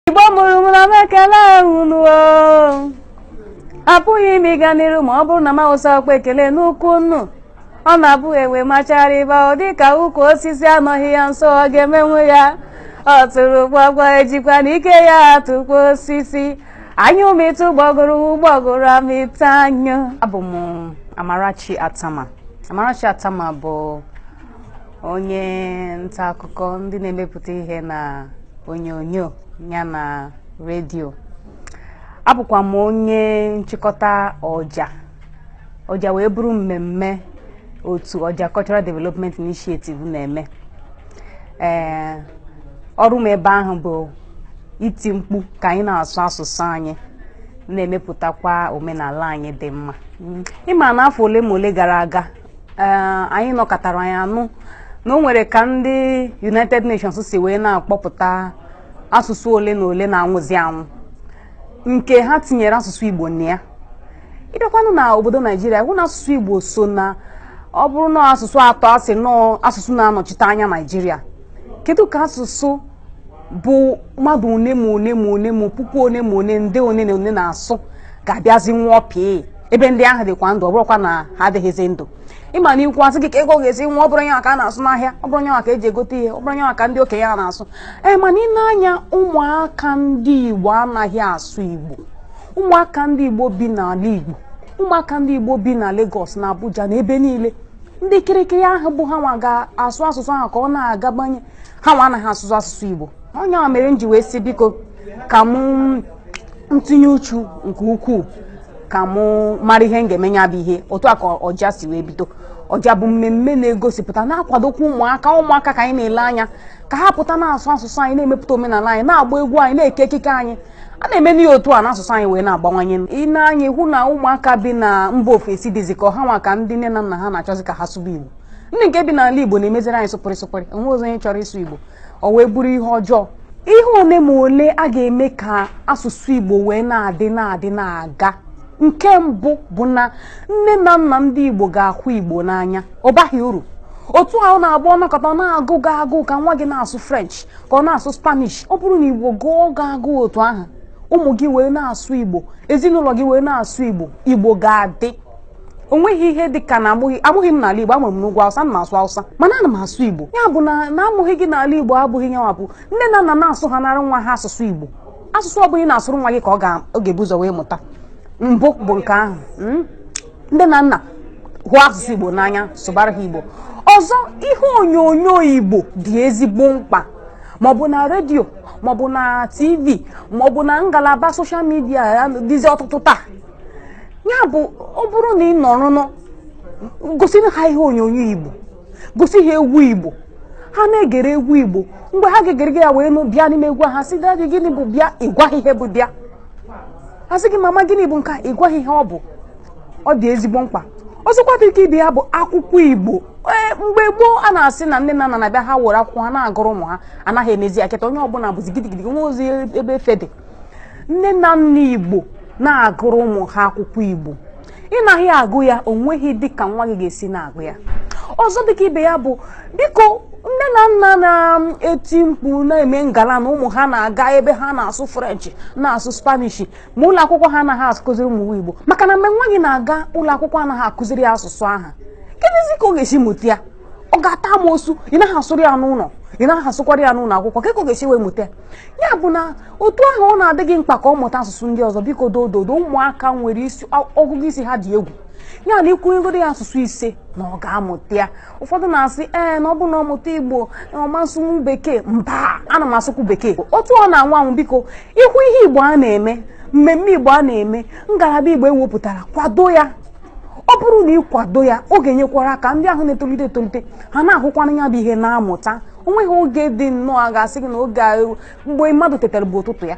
igbo mụrụ m ana m ekele unu o. apụghị m ịga n'iru ma ọ bụrụ na m awụsa akpa ekele n'ụkwụ unu ọ na-abụ enwe machara ịba ọ dị ka ukwu osisi anọghị ya nso ọ ga-emenwu ya ọtụrụkpọkpọ ejikwanụ ike ya atụkpọ osisi anyụ mịta ụgbọgụrụ ụgbọgụrụ amịta anyụ abụ m amarachi atama amarachi atama bụ onye nta akụkọ ndị na-emepụta ihe na onyonyo ya na redio abụkwa m onye nchịkọta ọja ọja wee bụrụ mmemme otu ọja cultural development initiative na-eme ee ọrụ m ebe ahụ bụ iti mkpu ka anyị na-asụ asụsụ anyị na-emepụtakwa omenala anyị dị mma ị ma na afọ ole ma ole gara aga Ee, anyị nọkatara anyị anụ na o nwere ka ndị united nations si wee na-akpọpụta asụsụ ole na ole na-anwụzi anwụ nke ha tinyere asụsụ igbo na ya ị bịakwanụ na obodo naijiria ị hụ na asụsụ igbo so na ọ bụrụ na asụsụ atọ a sị na ọ asụsụ na-anọchite anya naijiria kedu ka asụsụ bụ mmadụ one ma one ma one ma puku one ma one nde one na one na-asụ ga-abịazi nwụọ pịị ebe ndị ahụ dịkwa ndụ ọ bụrụkwa na ha adịghịzi ndụ ị ma na ị kwuo a sị gị ka Igbo ga-esi nwụọ ọ bụrọ ya ka a na-asụ n'ahịa ọ bụrọ ya ka eji egote ihe ọ bụrọ ya ka ndị okenye a na-asụ ee mana ị nee anya ụmụaka ndị Igbo anaghị asụ Igbo ụmụaka ndị Igbo bi n'ala Igbo ụmụaka ndị Igbo bi na Lagos na Abuja na ebe niile ndị kirikiri ahụ bụ ha nwa ga-asụ asụsụ ahụ ka ọ na-agabanye ha nwa anaghị asụzi asụsụ igbo ọ nya mere m ji wee sị biko ka m tinye uchu nke ukwuu ka m mara ihe m ga-eme ya bụ ihe otu a ka ọja si wee bido ọja bụ mmemme na-egosipụta na-akwadokwa ụmụaka ụmụaka ka anyị na-ele anya ka ha pụta na-asụ asụsụ anyị na-emepụta omenala anyị na-agba egwu anyị na-eke ekike anyị a na-eme n'ihe otu a n'asụsụ anyị wee na-agbawanye ị nee anya hụ na ụmụaka bi na mba ofesi dịzi ka ọ ha nwa ka ndị nne na nna ha na-achọzi ka ha sụba Igbo ndị nke bi n'ala igbo na-emeziri anyị sụpụrị sụpụrị o nwezie onye chọrọ ịsụ igbo o wee bụrụ ihe ọjọọ ihe ole ma ole a ga-eme ka asụsụ igbo wee na-adị na-adị na-aga nke mbụ bụ na nne na nna ndị igbo ga-ahụ igbo n'anya ọ baghị uru otu ahụ na-agba ọ nọkata ọ na-agụ gị agụụ ka nwa gị na-asụ french ka ọ na-asụ spanish ọ bụrụ na igbo gụọ gị agụụ otu ahụ ụmụ gị wee na-asụ igbo ezinụlọ gị wee na-asụ igbo igbo ga-adị o nweghị ihe dị ka na amụghị amụghị m n'ala Igbo amụrụ m n'ugwu Hausa m na-asụ Hausa mana ana m asụ Igbo ya bụ na na amụghị gị n'ala Igbo abụghị nyanwa bụ nne na nna na-asụhanara nwa ha asụsụ Igbo asụsụ ọ bụla ị na-asụrụ nwa gị ka ọ ga-ebu ụzọ wee mụta mbụ bụ nke ahụ hmm? nne na nna hụ asụsụ Igbo n'anya sụbara ha Igbo ọzọ ihe onyonyo Igbo dị ezigbo mkpa maọbụ na redio maọbụ na tv maọbụ na ngalaba soshal midia dịzi ọtụtụ taa ya bụ ọ bụrụ na ị nọrọ n'ụlọ gosi ha ihe onyonyo igbo gosi ha egwu igbo ha na-egere egwu igbo mgbe ha ga-egere gị ya wee nụ bịa n'ime egwu ha sị daddy gịnị bụ bịa ị gwa ha ihe bụ bịa ha sị gị mama gịnị bụ nke a ị gwa ha ihe ọ bụ ọ dị ezigbo mkpa ọzọkwa dị ka ibe ya bụ akwụkwọ igbo ee mgbe gboo a na-asị na nne na nna na-abịa ha were akwụkwọ ha na-agụrụ ụmụ ha anaghị emezi ya kịta onye ọbụla bụzi gidigidi nwerozi ebe efe dị nne na nna igbo na-agụrụ ụmụ ha akwụkwọ igbo ị naghị agụ ya o nweghị dịka nwa gị ga-esi na-agụ ya ọzọ dịka ibe ya bụ biko nne na nna na-eti mkpu na-eme ngala na ụmụ ha na-aga ebe ha na-asụ french na-asụ spanish ma ụlọ akwụkwọ ha anaghị akụziri ụmụ igbo maka na mgbe nwa gị na-aga ụlọ akwụkwọ anaghị akụziri ya asụsụ aha kedụzi ka ọ ga-esi mụta ya ọ ga-ata amosu ị naghị asụrụ ya n'ụlọ ị naghị asụkwara ya n'ụlọ akwụkwọ ka ọ ga-esi wee mụta ya bụ na otu ahụ ọ na-adị gị mkpa ka ọ mụta asụsụ ndị ọzọ biko dododo ụmụaka nwere ọgụgụ isi ha dị egwu ya na ị kwunyegoro ya asụsụ ise na ọ ga-amụta ya ụfọdụ na-asị ee na ọ bụ na ọ mụta igbo na ọ ma asụnwu bekee mba ana m asụkwu bekee otu ọ na-anwụ anwụ biko ị hụ ihe igbo a na-eme mmemme igbo a na-eme ngalaba igbo ewepụtara kwado ya ọ bụrụ na ị kwado ya ọ ga-enyekwara aka ndị ahụ na-etolite etolite ha na-ahụkwana ya bụ ihe na-amụta o nweghị oge dị nnọọ a ga-asị gị na oge mgbe mmadụ tetara bụ ụtụtụ ya